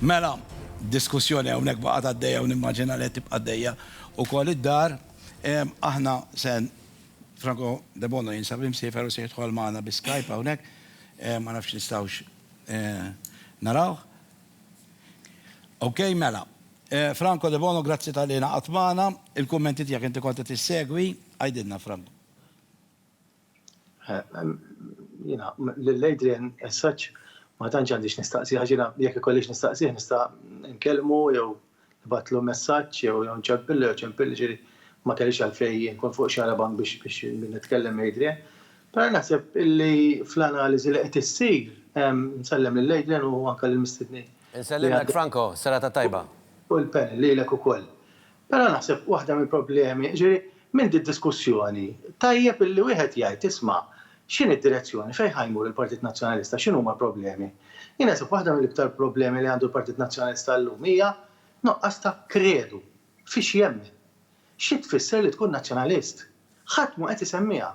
Mela, diskussjoni hawnhekk baqgħet għaddejja u nimmaġina li qed tibqa' għaddejja wkoll id-dar. Aħna se Franco Debono jinsab imsiefer u se jidħol magħna bi Skype hawnhekk. Ma nafx nistgħux narawh. Okej, mela. Franco Debono, grazzi talli ingħaqadt magħna. Il-kummenti tiegħek inti kont qed issegwi. Għidilna, Franco. Jiena lil Adrian as such ma tantx għandix nistaqsih għax jiena jekk ikollix nistaqsih nista' nkellmu jew nibgħatlu messaġġ jew jew nċempillu jew ċempilli ġifieri ma kellix għalfejn inkun fuq xarabank biex biex nitkellem ma' Adrian. Però naħseb illi fl-analiżi li qed issir, nsellem lil Adrian u anke lill-mistednin. Insellmlek Franco, serata tajba. U l-panel, lilek ukoll. Però naħseb waħda mill-problemi, jiġifieri minn did-diskussjoni tajjeb illi wieħed jgħid isma' x'inhi d-direzzjoni, fejn ħa jmur il-Partit Nazzjonalista, x'inhuma l-problemi. Jien naħseb waħda mill-iktar problemi li għandu l-Partit Nazzjonalista llum hija nuqqas ta' kredu fiex jemmen. Xi tfisser li tkun Nazzjonalist? Ħadd mhu qed isemmiha.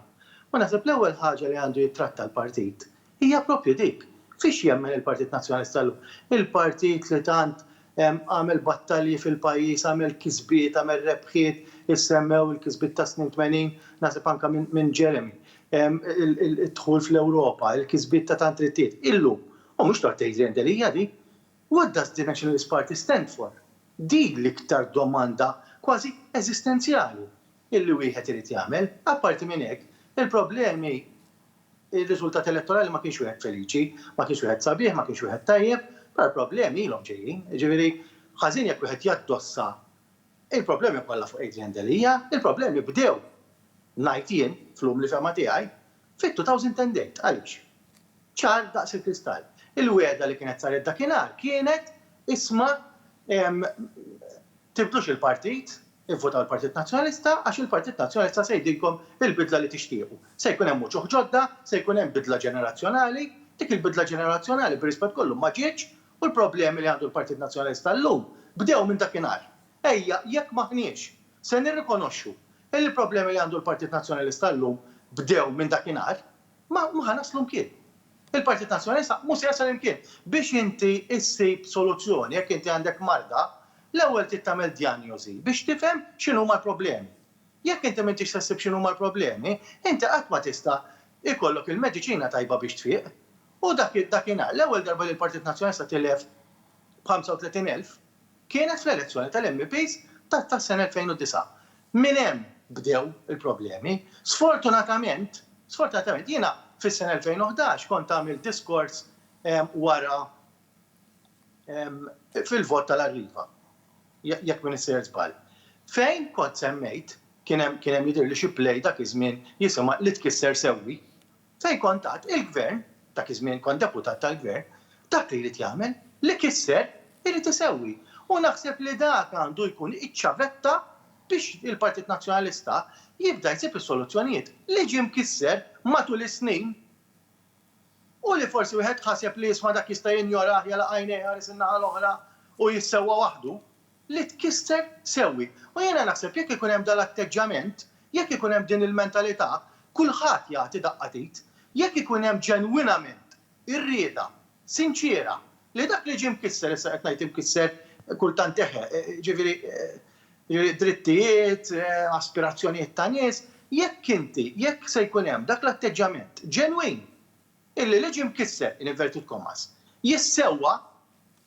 U naħseb l-ewwel ħaġa li għandu jittratta l-partit hija proprju dik. Fiex jemmen il-Partit Nazzjonalista llum? Il-partit li tant għamel battalji fil-pajjiż, għamel kisbiet, għamel rebħiet, issemmew il-kisbiet tas-snin tmenin, naħseb anke minn Jeremy, id-dħul fl-Ewropa, il-kisbiet ta' tant rittijiet. Illum. U mhux tort tgħidli int li hija din. What does the Nationalist Party stand for? Din l-iktar domanda kważi eżistenzjali. illi wieħed irid jagħmel. Apparti minn hekk, il-problemi, ir-riżultat elettorali ma kienx wieħed feliċi, ma kienx wieħed sabiħ, ma kienx wieħed tajjeb, però l-problemi ilhom ġejjin. Jiġifieri, ħażin jekk wieħed jaddossa il-problemi kollha fuq Adrian Delia, il-problemi bdew, ngħid jien, fl-umli fehma tiegħi, fit-2008. Għaliex? Ċar daqs il-kristall. Il-wegħda li kienet saret dakinhar kienet, isma', tibdlux il-partit, Ivvotaw il-Partit Nazzjonalista għax il-Partit Nazzjonalista se jgħidilkom il-bidla li tixtiequ. Se jkun hemm uċuħ ġodda, se jkun hemm bidla ġenerazzjonali. Dik il-bidla ġenerazzjonali bir-rispett kollu ma ġietx u l-problemi li għandu l-Partit Nazzjonalista llum bdew minn dakinhar. Ejja, jekk m'aħniex se nirrikonoxxu illi l-problemi li għandu l-Partit Nazzjonalista llum bdew minn dakinhar, ma ħa naslu mkien. Il-Partit Nazzjonalista mhu se jasal imkien. Biex inti ssib soluzzjoni jekk inti għandek marda, l-ewwel trid tagħmel djanjosi biex tifhem x'inhuma l-problemi. Jekk inti m'intix se ssib x'inhuma l-problemi, inti qatt ma tista' jkollok il-mediċina tajba biex tfieq. U dak dak inhar, l-ewwel darba li l-Partit Nazzjonalista tilef b' 35 elf, Kienet fl-elezzjoni tal-MEPs tas-sena 2009. Minn hemm bdew il-problemi. Sfortunatament, sfortunatament, jiena fis-sena 2011 kont għamilt diskors wara fil-vot tal-Arriva, jekk m'iniex sejjer żball, fejn kont semmejt, kien hemm jidhirli xi play dak iż-żmien jisimha Li Tkisser Sewwi, Fejn kont għad il-Gvern, dak iż-żmien kont Deputat tal-Gvern, dak li jrid jagħmel, li kisser, irid isewwi. U naħseb li dak għandu jkun iċ-ċavetta biex il-Partit Nazzjonalista jibda jsib is-soluzzjonijiet li ġie mkisser matul is-snin u li forsi wieħed ħaseb li isma' dak jista' jinjorah, jagħlaq għajnejh iħares in-naħa l-oħra u jissewwa waħdu. li tkisser sewwi. U jiena naħseb jekk ikun hemm dal-atteġġjament, jekk ikun hemm din il-mentalità, kulħadd jagħti daqqa t'id. Jekk ikun hemm ġenwinament ir-rieda sinċiera li dak li ġie mkisser, issa qed ngħid imkisser kultant eħe, jiġifieri drittijiet, aspirazzjonijiet ta' nies, jekk inti, jekk se jkun hemm dak l-atteġġjament ġenwin, Illi li ġie mkisser, in inverted commas, jissewwa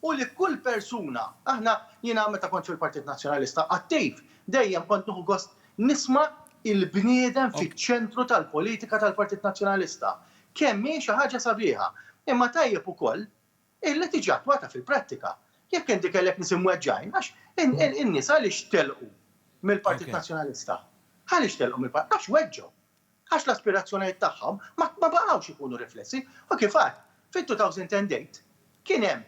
u li kull persuna, aħna, jiena meta kont fil-Partit Nazzjonalista Attiv dejjem kont nieħu gost nisma' il-bniedem fiċ-ċentru tal-politika tal-Partit Nazzjonalista. Kemm hi xi ħaġa sabiħa. Imma tajjeb ukoll illi tiġi attwata fil-prattika. Jekk inti kellek nies imweġġgħin għax in-nies għaliex telqu mill-Partit Nazzjonalista? Għaliex telqu mill-Partit? Għax weġġgħu. għax l-aspirazzjonijiet tagħhom ma ma baqgħux ikunu riflessi u kif għad, fit-2008 kien hemm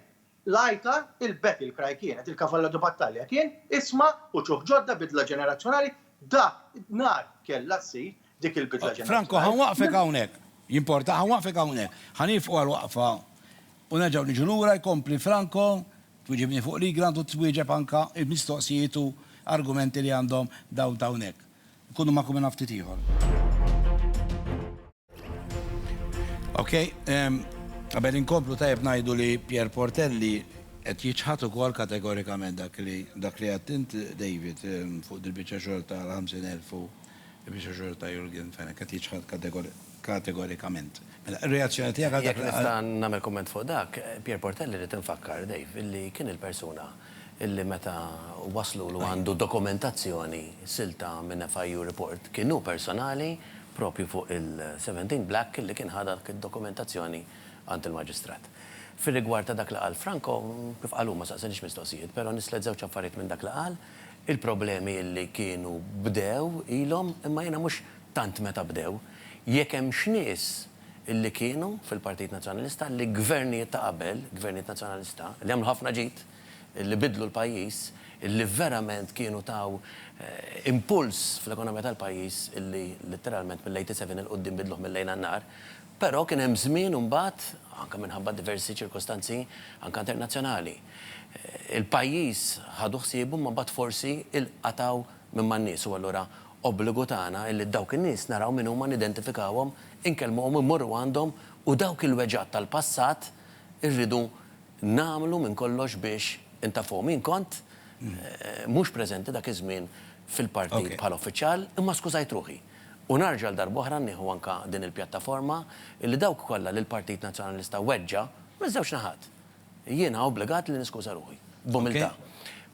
l-għajta, il-battle cry kienet, il-cavallo di battaglia kien isma' uċuh ġodda, bidla ġenerazzjonali, dak nar kellha ssir dik il-bidla ġenerazzjonali. Franco, ħa nwaqqfek hawnhekk. Jimporta? Ħa nwaqqfek hawnhekk. Ħa nieqfu għal waqfa u nerġgħu niġu lura, jkompli Franco, twieġibni fuq l-igran u twieġeb anke l-mistoqsijiet u argumenti li għandhom dawn t'hawnhekk. Nkunu magħkom minn ftit ieħor. Ok, għabel inkomplu tajb najdu li Pier Portelli qed jiċħat ukoll kategorikament dak li dak li għattint David fuq dil-biċċa xogħol ta' 50,000 u biċċa xogħol ta' Jurgen Fenech qed jiċħat kategorikament. Mela, ir-reazzjoni tiegħek għal dak li qal. Jekk nista' nagħmel kumment fuq dak, Pier Portelli rrid infakkar, Dave, illi kien il-persuna illi meta wasslulu għandu dokumentazzjoni silta minn FIU report, kien hu personali proprju fuq il-17 Black illi kien ħa dak id-dokumentazzjoni għand il-Maġistrat. Fir-rigward ta' dak li qal Franco, kif qal hu ma saqsaniġ mistoqsijiet, però nislet żewġ affarijiet minn dak li qal, il-problemi illi kienu bdew ilhom, imma jiena mhux tant meta bdew, Jekk hemmx nies li kienu fil-Partit Nazzjonalista li Gvernijiet ta' qabel, Gvernijiet Nazzjonalista, li għamlu ħafna ġid, li biddlu l-pajjiż, li verament kienu taw impuls fl-ekonomija tal-pajjiż li litteralment mill-87 'il quddiem biddluh mil-lejl għan-nhar. Però kien hemm żmien imbagħad, anke minħabba diversi ċirkostanzi anke internazzjonali, il-pajjiż ħadu ħsiebu imma mbagħad forsi ilqatgħu minn ma' nies u allura obbligu tagħna illi dawk in-nies naraw min huma nidentifikawhom, inkellmuhom, immorru għandhom u dawk il-weġgħat tal-passat irridu nagħmlu minn kollox biex intaffuhom. Jien kont mhux preżenti dak iż-żmien fil-partit bħala uffiċjal imma skużajt ruħi u narġa' għal darba oħra nieħu anke din il-pjattaforma illi dawk kollha li l-Partit Nazzjonalista weġġa' miż-żewġ naħat, Jiena obbligat li niskuża ruħi, b'umiltà.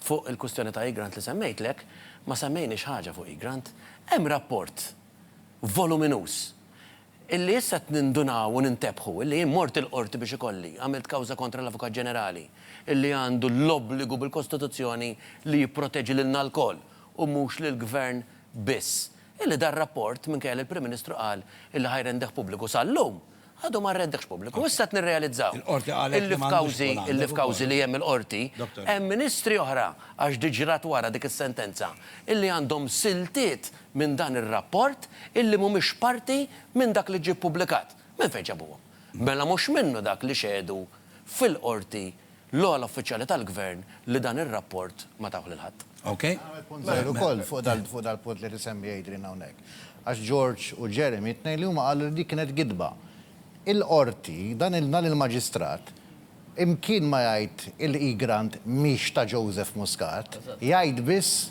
Fuq il-kwistjoni ta' Egrant li semmejtlek, ma semmejniex ħaġa fuq Egrant. Hemm rapport voluminuż illi issa qed nindunaw u nintebħu illi jien mort il-Qorti biex ikolli, għamilt kawża kontra l-Avukat Ġenerali illi għandu l-obbligu bil-Kostituzzjoni li jipproteġi lilna lkoll u mhux lill-Gvern biss. Illi dan rapport, minkejja li l-Prim Ministru qal illi ħa jrendeh pubbliku sal-lum, għadu ma rrendehx pubbliku. Issa qed nirrealizzaw illi f'kawżi, illi f'kawżi li hemm il-Qorti, hemm Ministri oħra, għax dik ġrat wara dik is-sentenza, illi għandhom siltiet minn dan ir-rapport illi mhumiex parti minn dak li ġie ppubblikat. Minn fejn ġabuhom? Mela mhux minnu dak li xehdu fil-Qorti L-ogħla uffiċjali tal-Gvern li dan ir-rapport ma tawh lil ħadd. Okej. Nagħmel punt żgħir ukoll fuq dal-punt li qed isemmi Adrian hawnhekk. Għax George u Jeremy t-tnejn li huma qalu li dik kienet gidba. Il-Qorti, dan il-Maġistrat, imkien ma jgħid il-e-grant mhix ta' Joseph Muscat, jgħid biss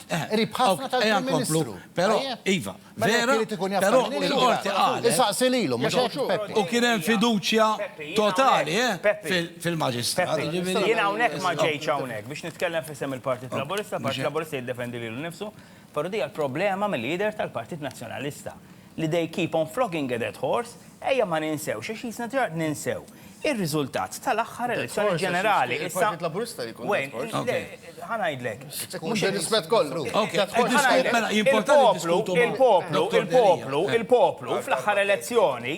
Qrib ħafna tal-Prim Ministru. Però, iva, vera, però il-qorti qalet. Isaqsi lilu, mhux hekk Peppi. U kien hemm fiduċja totali fil-Maġistrat. Peppi, jiena hawnhekk ma ġejtx hawnhekk biex nitkellem f'isem il-Partit Laburista, il-Partit Laburista jiddefendi lilu nnifsu, però din hija l-problema mill-jidher tal-Partit Nazzjonalista. li they keep on flogging a dead horse, ejja ma ninsewx, għax qisna diġà qed ninsew, ir-riżultat tal-aħħar elezzjoni ġenerali. Issa. Il-Partit Laburista li jkun dead horse. Le, ħa ngħidlek. Mhux ir-rispett kollu. Il-poplu, il-poplu, il-poplu, il-poplu fl-aħħar elezzjoni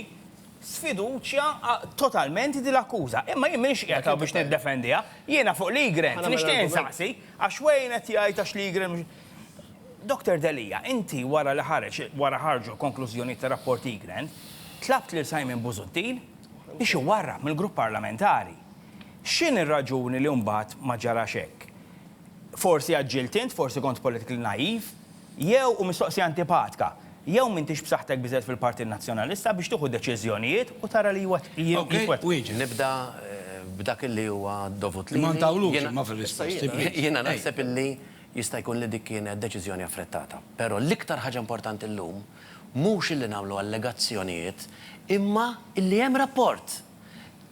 sfiduċja totalment din l-akkuża. Imma jien m'iniex qiegħed hawn biex niddefendiha. Jiena fuq Liegren, nixtieq insaqsi, għax Wayne qed jgħid għax Liegren Dottor Delia, inti wara li ħareġ, wara ħarġu l-konklużjonijiet tar-rapport Egrant, tlabt lil Simon Busuttil biex iwarrab mill-Grupp Parlamentari. X'inhi r-raġuni li mbagħad ma ġarax hekk? Forsi għaġġilt int, forsi kont politically naive, jew, u mistoqsija antipatka, jew m'intix b'saħħtek biżżejjed fil-Partit Nazzjonalista biex tieħu deċiżjonijiet u tara li jitwettqu? Nibda b'dak li huwa dovut lili. Jiena naħseb li Jista' jkun li dik kienet deċiżjoni affrettata, però l-iktar ħaġa importanti llum mhux illi nagħmlu allegazzjonijiet imma illi hemm rapport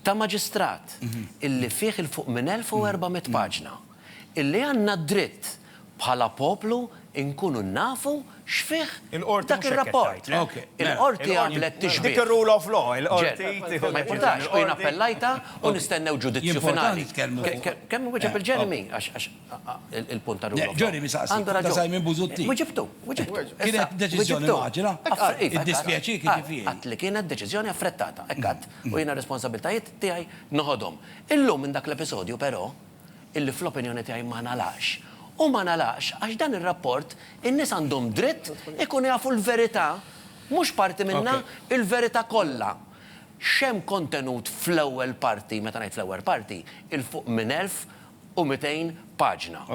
ta' maġistrat illi fih 'il fuq minn 1,400 paġna illi għandna d-dritt bħala poplu nkunu nafu x'fih dak ir-rapport. Il-Qorti għamlet tixbieh. Ma jimpurtax, u jien appellajtha u nistennew ġudizzju finali. Kemm iwieġeb il-Jeremy għax. Il-punt ta' rule of law. Ġorri misaqsi. Għandu raġun. Ta' Simon Busuttil. Wiġibtu, wiġibtu. Kienet deċiżjoni maġla. Iddispjaċik jiġifieri. Għadt li kienet deċiżjoni affrettata. Hekk għadt. U jiena r-responsabbiltajiet tiegħi noħodhom. Illum minn dak l-episodju però, illi fl-opinjoni tiegħi ma ngħalaqx. U ma ngħalaqx għax dan ir-rapport in-nies għandhom dritt ikunu jafu l-verità, mhux parti minnha, il-verità kollha. X'hemm kontenut fl-ewwel parti, meta ngħid fl-ewwel parti, 'il fuq minn elf u 200 paġna.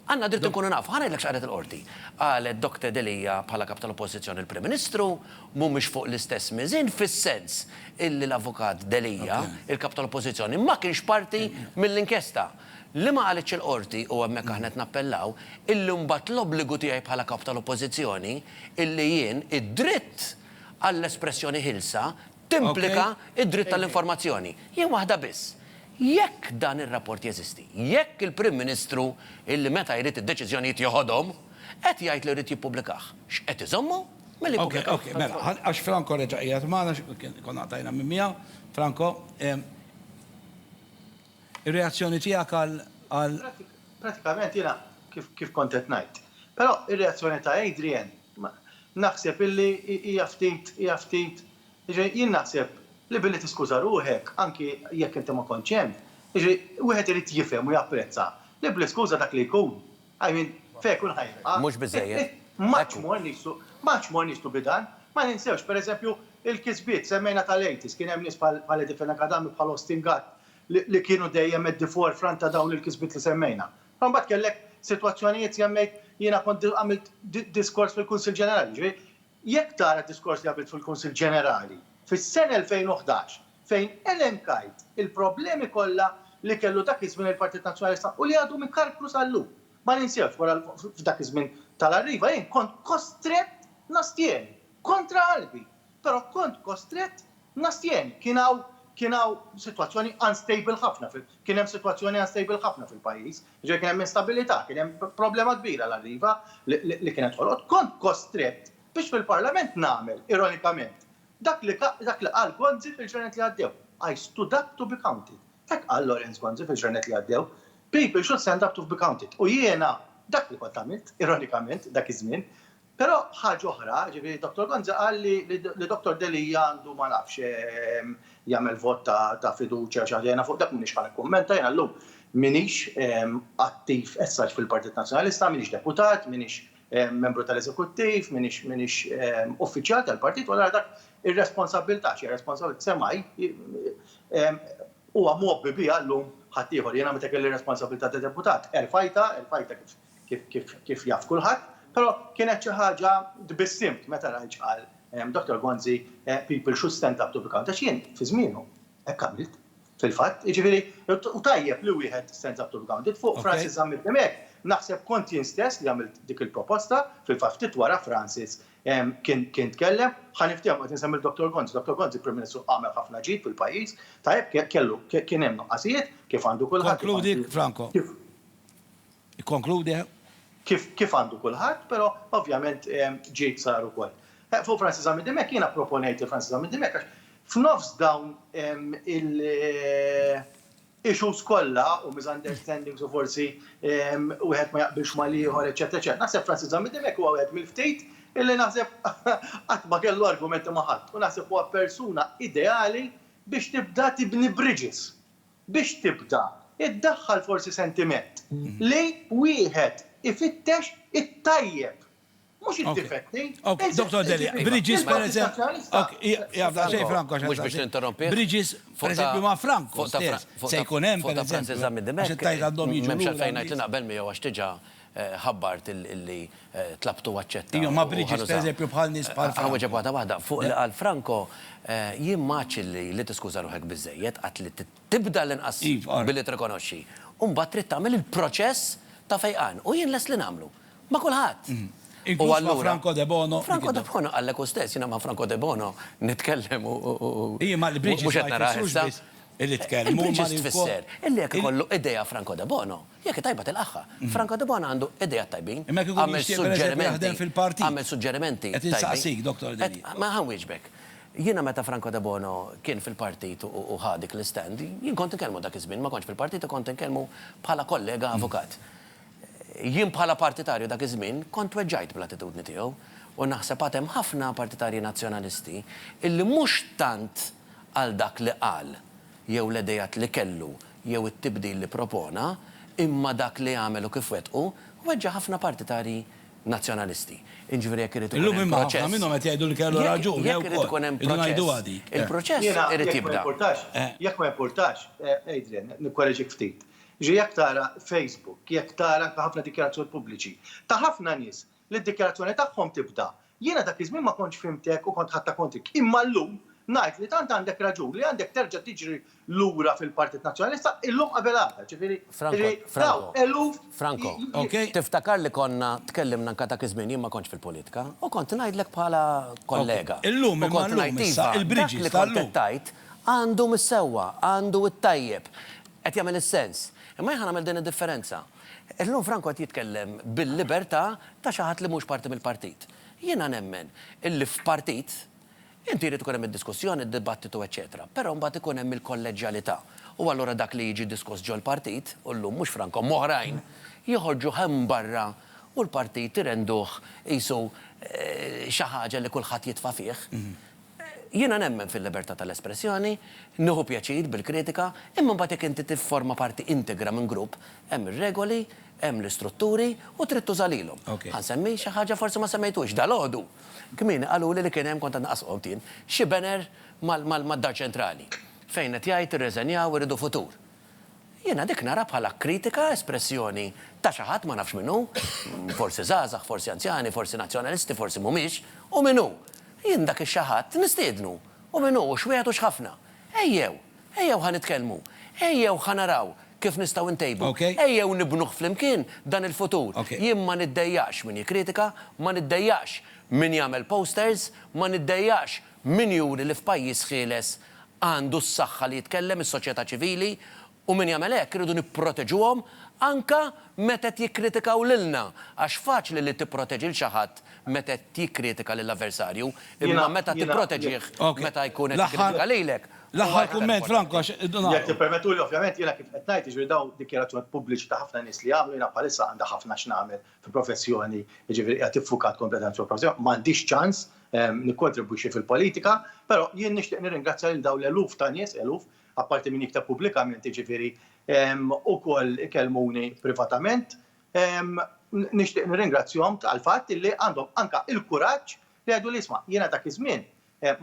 Għandna dritt inkunu nafu. Ħa ngħidlek x'qalet il-Qorti. Qalet Doctor Delia bħala Kap tal-Oppożizzjoni l-Prim Ministru mhumiex fuq l-istess miżien fis-sens illi l-Avukat Delia, il-Kap tal-Oppożizzjoni, ma kienx parti mill-inkjesta. Li ma qalitx il-Qorti, u hemmhekk aħna qed nappellaw, illi mbagħad l-obbligu tiegħi bħala Kap tal-Oppożizzjoni illi jien id-dritt għall-espressjoni ħielsa timplika d-dritt tal-informazzjoni. Jien waħda biss. Jekk dan ir-rapport jeżisti, jekk il-Prim Ministru, illi meta jrid id-deċiżjonijiet jeħodhom, qed jgħid li jrid jippubblikah, x'qed iżommu milli jippubblikah? Okej, okej, mela, għax Franco reġa' qiegħed magħna, konna qtajna minn miegħu, Franco, ir-reazzjoni tiegħek għal. Prattikament jiena kif kont qed ngħid. Però r-reazzjoni ta' Adrian Naħseb illi hija ftit, hija ftit, jiġifieri jien naħseb li billi tiskuża ruħek, anki jekk inti ma kontx hemm, jiġifieri wieħed irid jifhem u japprezza li bl-iskuża dak li jkun, I mean, fejn ikun ħa jilqa'. Mhux biżżejjed. M'għadx mor nieqsu, m'għadx mor nieqsu bi dan. Ma ninsewx, per eżempju, il-kisbiet, semmejna tal-80s, kien hemm nies bħal bħal Edifena Kadami, bħal Austin Gatt li li kienu dejjem at the forefront ta' dawn il-kisbiet li semmejna. Imbagħad kellek sitwazzjonijiet semmejt, jiena kont għamilt diskors fil-Kunsill Ġenerali, jiġifieri jekk tara d-diskors li għamilt fil-Kunsill Ġenerali fis-sena 2011 fejn elenkajt il-problemi kollha li kellu dak iż-żmien il-Partit Nazzjonalista u li għadhom ikarkru sal-lum. Ma ninsewx wara f'dak iż-żmien tal-Arriva jien kont kostrett nastjeni, kontra qalbi, Però kont kostrett nastjeni. Kien hawn kien hawn sitwazzjoni unstable ħafna fil kien hemm sitwazzjoni unstable ħafna fil-pajjiż. Jiġifieri kien hemm instabilità, kien hemm problema kbira l-Arriva li li li kienet ħolqot. Kont kostrett biex fil-Parlament nagħmel, ironikament, dak li ka dak li qal Gonzi fil-ġranet li għaddew, I stood up to be counted. Hekk qal Lawrence Gonzi fil-ġranet li għaddew, People should stand up to be counted. U jiena dak li kont għamilt, ironikament, dak iż-żmien. Però ħaġa oħra, jiġifieri Dottor Gonzi qal li Dottor Delia għandu ma nafx jagħmel vot ta' fiduċja xi ħaġa, jiena fuq dak m'iniex ħa nikkummenta, jiena llum m'iniex attiv as such fil-Partit Nazzjonalista, m'iniex deputat, m'iniex membru tal-eżekuttiv, m'iniex uffiċjal tal-partit u allura dak ir-responsabbiltà, x'hija responsabbiltà, semgħi huwa mgħobbi biha llum ħaddieħor. Jiena meta kelli r-responsabbiltà ta' deputat erfajtha, erfajtha kif kif jaf kulħadd, però kienet xi ħaġa tbissimt meta rajt x'qal Dottor Gonzi, People should stand up to be count, għax jien fi żmienu hekk għamilt fil-fatt, jiġifieri u tajjeb li wieħed stands up to be counted, fuq Francis Zammit Dimech naħseb kont jien stess li għamilt dik il-proposta, fil-fatt ftit wara Francis kien tkellem, ħa niftehmu qed insemmi 'l Dottor Gonzi, Dottor Gonzi Prim Ministru għamel ħafna ġid fil-pajjiż, tajjeb kellu kien hemm nuqqasijiet kif għandu kulħadd, Ikkonkludi. Kif għandu kulħadd, però ovvjament ġid sar ukoll. Fuq Francis Zammit Dimech, jiena pproponejt lil Francis Zammit Dimech għax f'nofs dawn il-issues kollha u misunderstandings u forsi wieħed ma jaqbilx mal-ieħor, eċċetera, eċċetera, naħseb Francis Zammit Dimech huwa wieħed mill-ftit illi naħseb qatt ma kellu argumenti ma' ħadd u naħseb huwa persuna ideali biex tibda tibni bridges. biex tibda iddaħħal forsi sentiment li wieħed ifittex it-tajjeb, mhux id-difetti. Ok, ok, Dottor Delia, Bridges per eżempju, mhux biex ninterrompih, Bridges per eżempju ma' Franco stess se jkun hemm per eżempju, għax it-Tajjeb għandhom jiġu lura. M'hemmx għalfejn ngħid li naqbel miegħu għax diġà ħabbart li tlabt u aċċetta. Iva, ma Bridges, pereżempju, bħal nies bħal Franco. Hawn ġab waħda waħda. Fuq li qal Franco, jien ma għadtx illi li tiskuża ruħek biżżejjed, għadt li tibda l-inqas billi tirrikonoxxi. U mbagħad trid tagħmel il-proċess ta' fejqan. U jien lest li nagħmlu. Ma' kulħadd. U allura. Inkluż ma' Franco Debono. Franco Debono qalek hu stess, jiena ma' Franco Debono nitkellem u. Iva, ma' Bridges ma jfissrux biss. Illi tkellmu ma' lil fuq. Il-preġudice tfisser illi jekk ikollu idea Franco Debono, jekk hi tajba tilqagħha. Franco Debono għandu ideat tajbin. Imma jekk ikun jixtieq pereżempju jaħdem fil-partit. Għamel suġġerimenti tajbin. Qed insaqsik, Dottor Delia. Qed, ma ħa nwieġbek. Jiena meta Franco Debono kien fil-partit u ħa dik l-istand, jien kont inkellmu dak iż-żmien, ma kontx fil-partit u kont inkellmu bħala kollega avukat. Jien bħala partitarju dak iż-żmien kont tweġġajt bl-attitudni tiegħu u naħseb għad hemm ħafna partitarji Nazzjonalisti illi mhux tant, għal dak li qal jew l-idejat li kellu jew it-tibdil li propona, imma dak li għamel u kif wettqu, weġġa' ħafna partitarji Nazzjonalisti. Jiġifieri jekk irid ikun hemm proċess. Illum imma ħafna minnhom qed jgħidu li kellu raġun, jew ukoll. Jekk irid ikun hemm proċess, il-proċess irid jibda. Jekk ma jimpurtax, Adrian, nikkoreġik ftit. Jiġifieri jekk tara Facebook, jekk tara anke ħafna dikjarazzjoni pubbliċi ta' ħafna nies li d-dikjarazzjoni tagħhom tibda, Jiena dak iż-żmien ma kontx fhimtek u kont ħadtha kontrik, imma llum ngħid li tant għandek raġun li għandek terġa' tiġri lura fil-Partit Nazzjonalista illum qabel għada, ġifieri li dawn eluf Franco, ok, tiftakar li konna tkellimna anke dak iż-żmien, jien ma kontx fil-politika, u kont ngħidlek bħala kollega, u kont ngħid iva, dak li kont qed tgħid għandu mis-sewwa, għandu t-tajjeb, qed jagħmel is-sens, imma jien ħa nagħmel din id-differenza. Illum Franco qed jitkellem bil-libertà ta' xi ħadd li mhux parti mill-partit. Jiena nemmen illi f'partit inti jrid ikun hemm id-diskussjoni, d-dibattitu eċċetera, però mbagħad ikun hemm il-kolleġġjalità u allura dak li jiġi diskuss ġol-partit, u llum mhux Franco imma oħrajn, joħorġuh hemm barra u l-partit irenduh qisu xi ħaġa li kulħadd jitfa' fih. Jiena nemmen fil-libertà tal-espressjoni, nieħu pjaċir bil-kritika, imma mbagħad jekk inti tifforma parti integra minn grupp, hemm ir-regoli, hemm l-istrutturi u trid tuża lilhom. Ħa nsemmi xi ħaġa forsi ma semmejthux. Dalgħodu kmieni qaluli li kien hemm, kont qed naqas qgħod jien, xi banner mad-Dar Ċentrali fejn qed jgħid irreżenjaw irridu futur. Jiena dik nara bħala kritika, espressjoni ta' xi ħadd, ma nafx min hu, forsi żgħażagħ, forsi anzjani, forsi Nazzjonalisti, forsi mhumiex, u min hu? Jien dak ix-xi ħadd nistiednu, u min hu, u x'wieħed u x'ħafna. Ejjew, ejjew ħa nitkellmu, ejjew ħa naraw kif nistgħu ntejbu, ejjew nibnuh flimkien dan il-futur. Jien ma niddejjaqx min jikkritika, ma niddejjaqx min jagħmel posters, ma niddejjaqx Min juri li f'pajjiż ħieles għandu s-saħħa li jitkellem, is-soċjetà ċivili, u min jagħmel hekk irridu nipproteġuhom anke meta qed jikkritikaw lilna, għax faċli li tipproteġi 'l xi ħadd meta qed jikkritika lill-avversarju, imma meta tipproteġih meta jkun qed jikkritika lilek huwa aktar importanti. Jekk tippermettuli, ovvjament jiena kif qed ngħid, jiġifieri dawn dikjarazzjonijiet pubbliċi ta' ħafna nies li jagħmlu, jiena bħalissa għandi ħafna x'nagħmel fil-professjoni, jiġifieri qiegħed iffukat kompletament fuq il-professjoni, ma għandix ċans nikkontribwixxi fil-politika, però jien nixtieq nirringrazzja lil dawn l-eluf ta' nies, eluf, apparti min jikteb pubblikament jiġifieri, ukoll ikellmuni privatament, nixtieq nirringrazzjahom għall-fatt illi għandhom anke l-kuraġġ li jgħidu li isma' jiena dak iż-żmien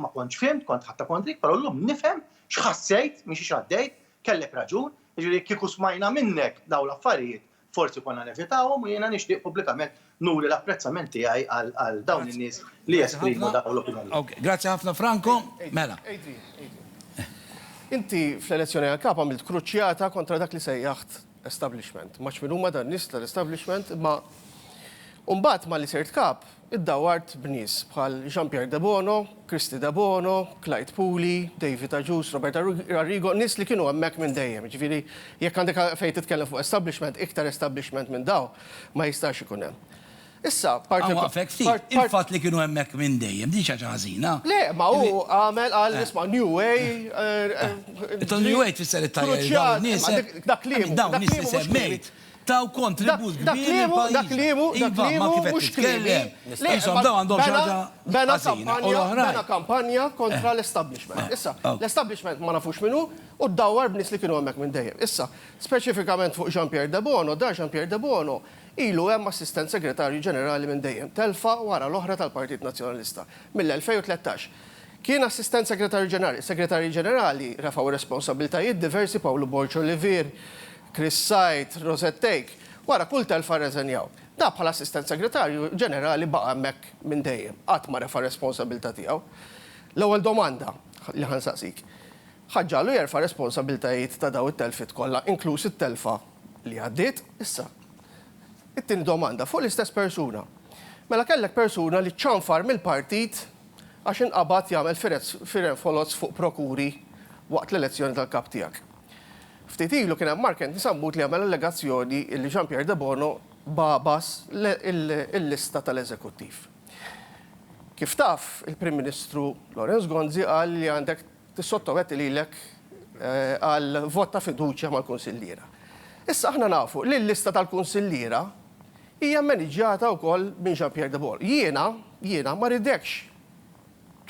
ma kontx fhimt, kont ħatta kontrik, però llum nifhem x'ħassejt, mhix x'għaddejt, kellek raġun, jiġifieri kieku smajna minnek dawn l-affarijiet Forsi konna nevitawhom u jiena nixtieq pubblikament nuri l-apprezzament tiegħi għal dawn in-nies li jesprimu dawn l-opinjonijiet. Grazzi ħafna Franco. Mela. Inti fl-elezzjoni għall-Kap għamilt kruċjata kontra dak li sejjaħt establishment. Ma nafx min huma dan nies tal-establishment imma u mbagħad malli sirt Kap, Iddawwart b'nies bħal Jean Pierre Debono, Christy Debono, Clyde Puli, David Agius, Robert Arrigo, nies li kienu hemmhekk minn dejjem. Jiġifieri jekk għandek fejn titkellem fuq establishment, iktar establishment minn dawn ma jistax ikun hemm. Issa, parti. Inwaqfek ftit. Il-fatt li kienu hemmhekk minn dejjem, din xi ħaġa ħażina? Le, ma hu għamel qal isma' New Way. New Way tfisser it-tajjeb. Dak l-ieħor. Dak l-ieħor mhux. Taw kontribut kbir lill-pajjiżna. Dak kliemu, dak kliemu, dak kliemu mhux kliemi. Qishom dawn għandhom xi ħaġa ħażina u l-oħrajn. Bena kampanja kontra l-establishment. Issa, l-establishment ma nafux min hu u ddawwar b'nies li kienu hemmhekk minn dejjem. Issa, speċifikament fuq Jean Pierre Debono, dan Jean Pierre Debono ilu hemm Assistent Segretarju Ġenerali minn dejjem, telfa wara l-oħra tal-Partit Nazzjonalista, mill-2013. Kien Assistent Segretarju Ġenerali. Segretarji Ġenerali refgħu r-responsabbiltajiet diversi, Pawlu Borg Olivier, Chris Said, Rosette Take, wara kull telfa rreżenjaw. Dak bħala Assistent Segretarju Ġenerali baqa' hemmhekk minn dejjem, qatt ma refa' r-responsabilità tiegħu. L-ewwel domanda li ħa nsaqsik, ħa ġġagħlu jerfa' r-responsabilitajiet ta' dawn it-telfiet kollha, inkluż it-telfa li għaddiet? Issa, it-tieni domanda fuq l-istess persuna. Mela kellek persuna li ċċanfar mill-partit għax inqabad jagħmel firgħet foloz fuq prokuri waqt l-elezzjoni tal-Kap tiegħek. Ftit ilu kien hemm Mark Anthony Sammut li għamel allegazzjoni li Jean Pierre Debono bagħbas il-lista tal-Eżekuttiv. Kif taf, il-Prim Ministru Lawrence Gonzi qal li għandek tissottometti lilek għal vot ta' fiduċja mal-Kunsilliera. Issa aħna nafu li l-lista tal-Kunsilliera hija mmaniġġjata wkoll minn Jean Pierre Debono. Jiena, jiena ma rridekx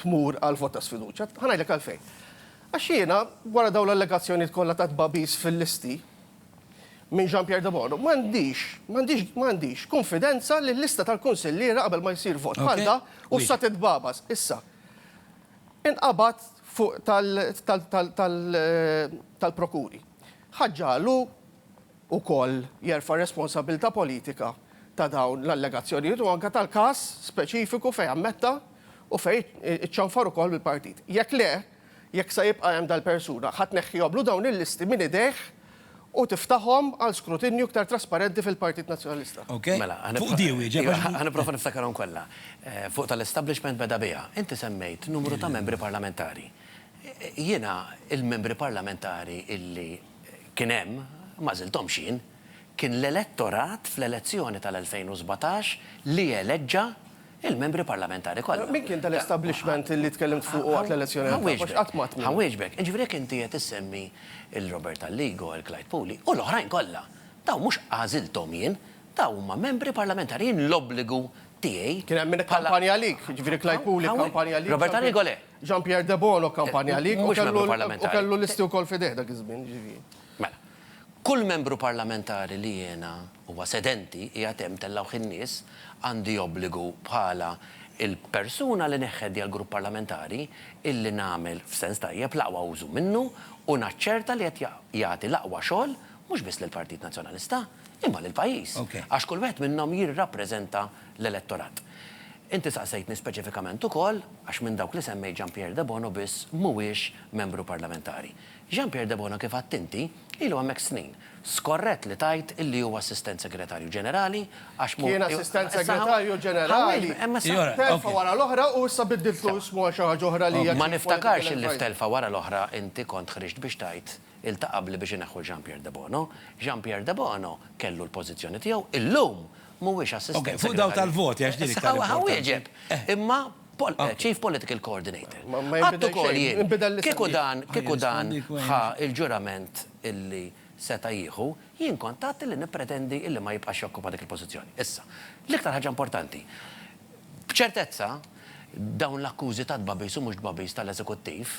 tmur għal vot ta' sfiduċja. Ħa ngħidlek għalfejn. Għax jiena, wara dawn l-allegazzjonijiet kollha ta' tbagħbis fil-listi minn Jean Pierre Debono, m'għandix, m'għandix, m'għandix kunfidenza li l-lista tal-kunsilliera qabel ma jsir vot bħal da u issa titbagħbas. Issa, inqabad fuq tal-prokuri. Ħaġġa għal hu, ukoll jerfa' r-responsabbiltà politika ta' dawn l-allegazzjonijiet u anke tal-każ speċifiku fejn ammetta u fejn iċċanfar ukoll mill-partit. Jekk le, jekk se jibqa' hemm dal-persuna, ħa tneħħihomlu dawn il-listi minn idejh u tiftahom għal skrutinju iktar trasparenti fil-Partit Nazzjonalista. Mela, ħa nipprova niftakarhom kollha. Fuq tal-establishment beda biha. Inti semmejt numru ta' membri parlamentari. Jiena, il-membri parlamentari illi kien hemm, ma żilthomx jien, kien l-elettorat fl-elezzjoni tal-2017 li eleġġa l-Membri Parlamentari kollha. Min kien dal-establishment li tkellimt fuqu waqt l-elezzjoni tal-Papa? Għax qatt m'għadt miegħu. Ħanwieġbek. Jiġifieri jekk inti qed issemmi l-Robert Alligo, il-Clyde Puli u l-oħrajn kollha, dawn mhux għażilthom jien, dawn huma Membri Parlamentari. Jien l-obbligu tiegħi bħala. Kien hemm min ikkampanja għalik, jiġifieri Clyde Puli kkampanja għalik. Robert Alligo le. Jean Pierre Debono kkampanja għalik u kellu listi wkoll f'idejh dak iż-żmien, jiġifieri. Mela. Kull membru parlamentari li jiena huwa sedenti, qiegħed hemm, tellgħuh in-nies, għandi obbligu bħala l-persuna li neħħet djal-grupp parlamentari illi nagħmel, f'sens tajjeb, l-aqwa użu minnu u naċċerta li qed jagħti l-aqwa xogħol mhux biss lill-Partit Nazzjonalista, imma lill-pajjiż. Għax kull wieħed minnhom jirrappreżenta l-elettorat. Inti saqsejtni speċifikament ukoll għax minn dawk li semmejt Jean Pierre Debono biss mhuwiex membru parlamentari. Jean Pierre Debono kif għedt inti, ilu hemmhekk snin. Skorrett li tgħid li hu Assistent Segretarju Ġenerali għax mhu Kien Assistent Segretarju Ġenerali telfa wara l-oħra u issa biddiltlu ismu għal xi ħaġa oħra li hija Ma niftakarx li f'telfa wara l-oħra inti kont ħriġt biex tgħid Iltaqa' qabli biex ineħħu 'l Jean Pierre Debono. Jean Pierre Debono kellu l-pożizzjoni tiegħu, illum mhuwiex Assistent Segretarju. Ok, fuq dawk tal-voti għax din iktar importanti. Ħawieġeb, imma Chief Political Coordinator. Għedt ukoll jien, kieku dan, kieku dan ħa l-ġurament illi seta' jieħu, jien kont għedt illi nippretendi illi ma jibqax jokkupa dik il-pożizzjoni. Issa, l-iktar ħaġa importanti, b'ċertezza dawn l-akkużi ta' tbagħbis u mhux tbagħbis tal-Eżekuttiv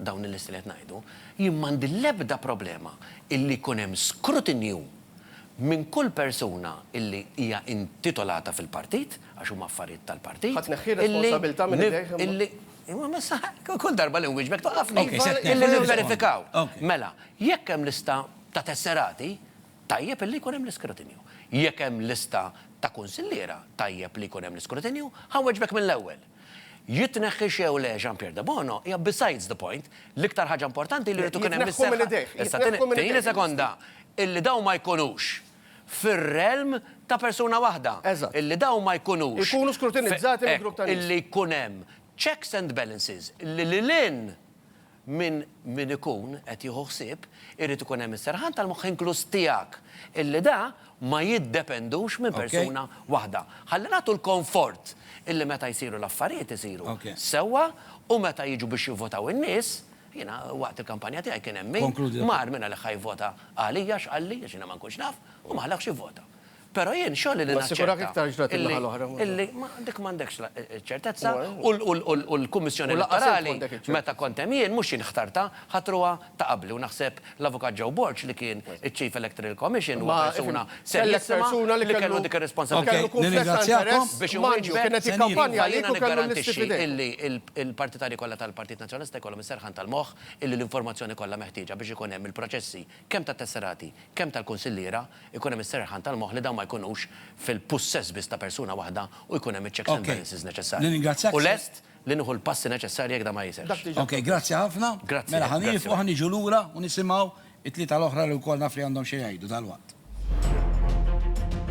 dawn il-listi li qed ngħidu, jien m'għandi l-ebda problema illi jkun hemm skrutinju minn kull persuna illi hija intitolata fil-partit, għax huma affarijiet tal-partit, Ħa tneħħi r-responsabilità minn idejh imma. illi, illi, kull darba li nwieġbek twaqqafni, illi nivverifikaw. Mela, jekk hemm lista ta' tesserati, tajjeb illi jkun hemm l-iskrutinju. Jekk hemm lista ta' kunsilliera, tajjeb li jkun hemm l-iskrutinju. Ħa nweġbek mill-ewwel. Jitneħħix jew le Jean Pierre Debono hija besides the point. L-iktar ħaġa importanti li jrid ikun hemm is-seħħa. Jitneħħu mill-idejh. Issa tieni sekonda, illi dawn ma jkunux fir-realm ta' persuna waħda. Eżatt. Illi dawn ma jkunux. Ikunu skrutinizzati minn grupp ta' nies. Illi jkun hemm checks and balances li lil hinn minn min ikun qed jieħu ħsieb, irid ikun hemm is-serħan tal-moħħ inkluż tiegħek, illi da ma jiddependux minn persuna waħda. Ħalli nagħtu l-konfort illi meta jsiru l-affarijiet isiru sewwa u meta jiġu biex jivvotaw in-nies, jiena waqt il-kampanja tiegħi kien hemm min mar mingħalih ħa jivvota għalija x'qalli, għax jiena ma nkunx naf, u ma ħalahx jivvota. Però jien xogħli li naċċerta illi dik m'għandekx ċ-ċertezza u l-Kummissjoni Elettorali meta kont hemm jien, mhux jien ħtartha, ħatruha ta' qabli u naħseb l-Avukat Joe Borg li kien iċ-Chief Electoral Commission huwa persuna serjissima li kellu dik ir-responsabbiltà biex iwieġbek iva jiena niggarantixxi illi l-partitarji kollha tal-Partit Nazzjonalista jkollhom is-serħan tal-moħħ illi l-informazzjoni kollha meħtieġa biex ikun hemm il-proċessi kemm tat-tesserati, kemm tal-kunsilliera, ikun hemm is-serħan tal-moħħ li dawn ma jkunux fil-pussess biss ta' persuna waħda u jkun hemm iċ-checks and balances neċessarji. U lest li nieħu l-passi neċessarji jekk dan ma jisirx. Okej, grazzi ħafna. Mela ħa nieqfu, ħa niġu lura u nisimgħu t-tlieta l-oħra li wkoll naf li għandhom xi jgħidu dalwaqt.